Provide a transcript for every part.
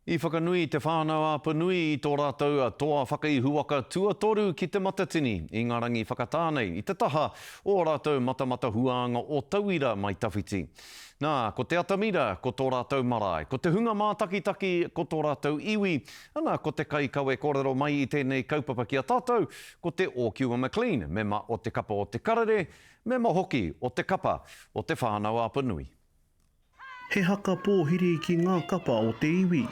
I whakanui te whānau Apanui i tō rātou toa whakaihuwaka tuatoru ki Te Matatini, Ingarangi whakatā nei, i te taha o ō rātou matamata huānga o tauira mai tawhiti. Nā, ko te atamira ko tō rātou marae, ko te hunga mātakitaki ko tō rātou iwi, ana ko te kaikawe kōrero mai i tēnei kaupapa ki a tātou ko te Ōkiwa McLean, mema o Te Kapa o Te Karere, mema hoki o Te Kapa o Te Whānau Apanui. He haka pōhiri ki ngā kapa o te iwi.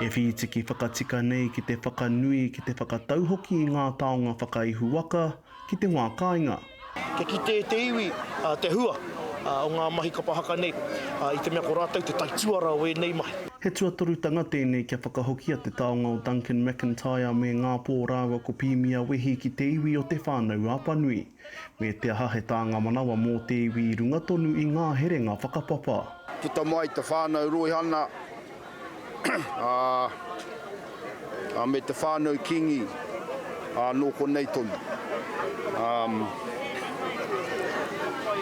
E whītiki whakatika nei ki te whakanui, ki te whakatau hoki i ngā taonga whakaihu waka ki te wā kāinga. Kia kite te iwi te hua o ngā mahi kapa haka nei i te mea ko rātou te taituara o ēnei mahi. He tuatorutanga tēnei kia whakahokia te taonga o Duncan McIntyre me Ngāpō rāua ko Pīmia Wehi ki te iwi o Te Whānau-a-Panui. Me te aha he tānga manawa mō te iwi i runga tonu i ngā herenga whakapapa. Puta mai te whānau Roihana, ā, me te whānau Kīngi, ā, nō konei tonu. Ā,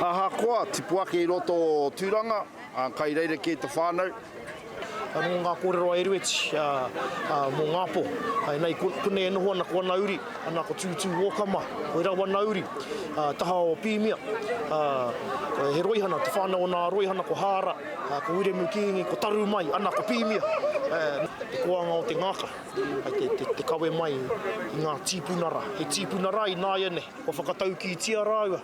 ahakoa tipu ake i roto o Tūranga, Kai rerekē te whānau. Nō ngā kōrero a Erueti mō ngā pō. Nei konei e noho ana ko ana uri, ana ko Tūtū Ōkama, ko Erau ana uri, taha o Pīmia. He roihana, te whānau o nā roihana ko Hāra, ko Wiremu Kīngi, ko Taru mai, ana ko Pīmia. Te koanga o te ngākā, te kawe mai i ngā tīpuna rā. He tīpuna rā ināianei, kua whakataukītia rāua.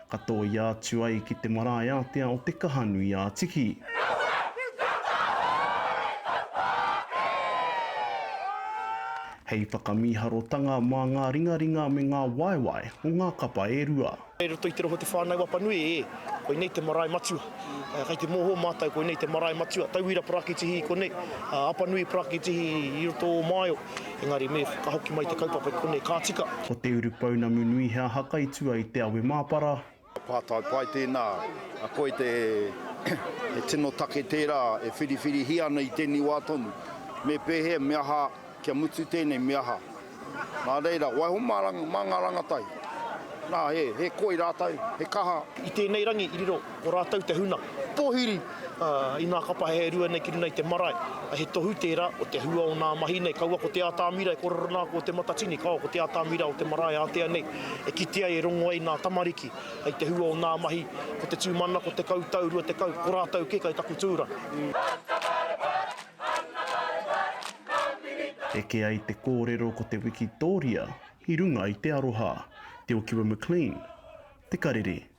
ka tōia atu ai ki te marae ātea o Te Kahanui-ā-Tiki. Hei whakamīharotanga mā ngā ringaringa me ngā waewae o ngā kapa e rua. Kei roto i te rohe o Te Whānau-a-Panui, ē, koinei te marae matua. Kei te mōhō mātou koinei te marae matua. Tauira parakitihi konei, Apanui parakitihi i roto o Maio. Engari me ka hoki mai te kaupapa ki konei, ka tika. Ko te urupounamu nui he aha kai tua i te awe māpara? Pātai pai tēnā. A koe te he tino take tērā e whiriwhirihia ana i tēnei wā tonu. Me pēhea, me aha, kia mutu tēnei, me aha? Nā reira, waiho mā ngā rangatahi. Nā, he koi rātou, he kaha. I tēnei rangi i riro. Ko rātou te huna pōhiri i ngā kapa hei rua nei ki runga i te marae. He tohu tērā o te hua o ngā mahi nei. Kaua ko te ātamira e korero nā ko te matatini, kaua ko te ātamira o te marae ātea nei e kite ai e rongo ai ngā tamariki hei te hua o ngā mahi. Ko te tūmanako tekau tau, rua tekau, ko rātou kē kai taku tūranga. Eke ai te kōrero ko te wikitōria i runga i te aroha. Te Okiwa McLean, Te Karere.